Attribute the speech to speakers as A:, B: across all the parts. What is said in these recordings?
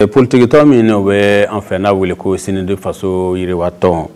A: politikitɔn min n'o bɛ an fɛ n'a wele ko sinidi faso yiriwatɔn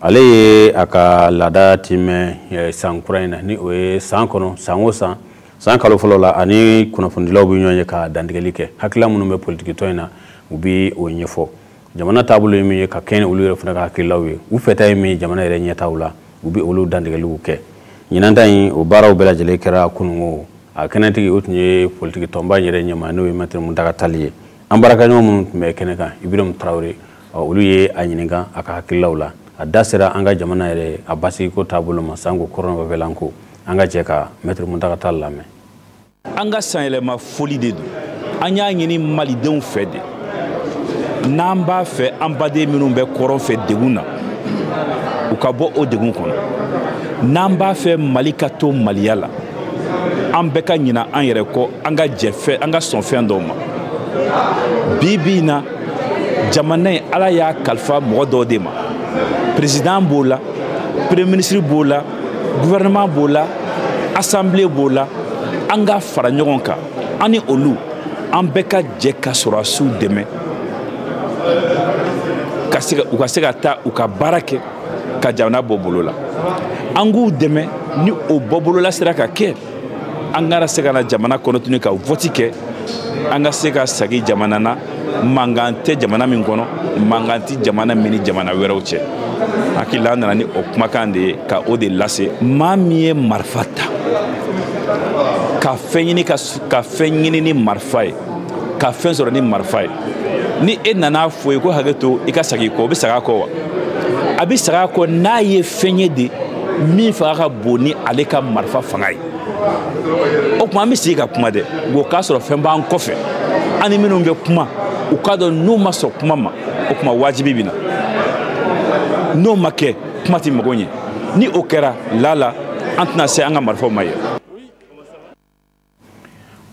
A: ale ye a ka laada timɛ eh, san kura in na ni o ye san kɔnɔ san o san san kalo fɔlɔ la a ni kunnafonidilaw bɛ ɲɔgɔn ye ka dantigɛli kɛ hakilila minnu bɛ politikitɔn in na u bɛ o ɲɛfɔ jamana taabolo ye min ye ka kɛɲɛ olu yɛrɛ fana ka hakililaw ye u fɛta ye min ye jamana yɛrɛ ɲɛtaaw la u bɛ olu dantigɛliw kɛ ɲinan ta in o baaraw bɛɛ lajɛlen kɛra kununko a kɛnɛtigi o tun ye politiki tɔnba yɛrɛ ɲɛmaa n'o ye mɛtiri muntaga tali ye an baarakaɲɔgɔn minnu tun bɛ kɛnɛ kan ibirɛmu tarawele olu ye a ɲininka a ka hakililaw la a da sera an ka jamana yɛrɛ a basigiko taabolo ma sanko kɔrɔnfɛla ko an ka jɛ ka mɛtiri muntaga tali lamɛn an ka
B: sanyɛlɛma foli de don an y'a ɲini malidenw fɛ de n'an b'a fɛ an baden minnu bɛ kɔrɔn fɛ degun na u ka bɔ o degun kɔnɔ n'an b'a fɛ mali ka to maliya la an bɛɛ ka ɲina an yɛrɛ kɔ an ka jɛ fɛn an ka sɔn fɛn dɔw ma bi bi in na jamana in ala y'a kalifa mɔgɔ dɔw de ma perezidan b'o la premier ministre b'o la gouvernement b'o la assemblée b'o la an ka fara ɲɔgɔn kan an ni olu an bɛɛ ka jɛ ka sɔrɔdasiw dɛmɛ u ka se ka taa u ka baara kɛ ka jamana bɔ bolo la an k'u dɛmɛ ni o bɔbolola sera ka kɛ an ka na se ka na jamana kɔnɔ tuguni ka vɔti kɛ an ka se ka sagi jamana na mankan tɛ jamana min kɔnɔ mankan tɛ jamana min ni jamana wɛrɛw cɛ hakili la an nana ni o kumakan de ye ka o de lase maa min ye marifa ta ka fɛn ɲini ka ka fɛn ɲini ni marifa ye ka fɛn sɔrɔ ni marifa ye ni e nana a fɔ o ye ko hakɛ to i ka sagi kɔ o bɛ sag'a kɔ wa a bɛ sag'a kɔ n'a ye fɛn ye de min fanga ka bon ni ale ka marifa fanga ye o tuma an bɛ sigi ka kuma dɛ o k'a sɔrɔ fɛn b'an kɔfɛ an ni minnu bɛ kuma u k'a dɔn n'u ma sɔn kuma ma o tuma wajibi bɛ na n'o ma kɛ kuma tɛ mago ɲɛ ni o kɛra lala an tɛna se an ka marifaw ma yɛrɛ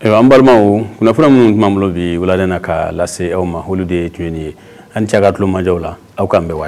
A: ayiwa an balimaw kunnafoni minnu tun b'an bolo bi wulada in na ka lase aw ma olu de tun ye nin ye aw ni ce aw ka tulomajɔw la aw k'an bɛn waati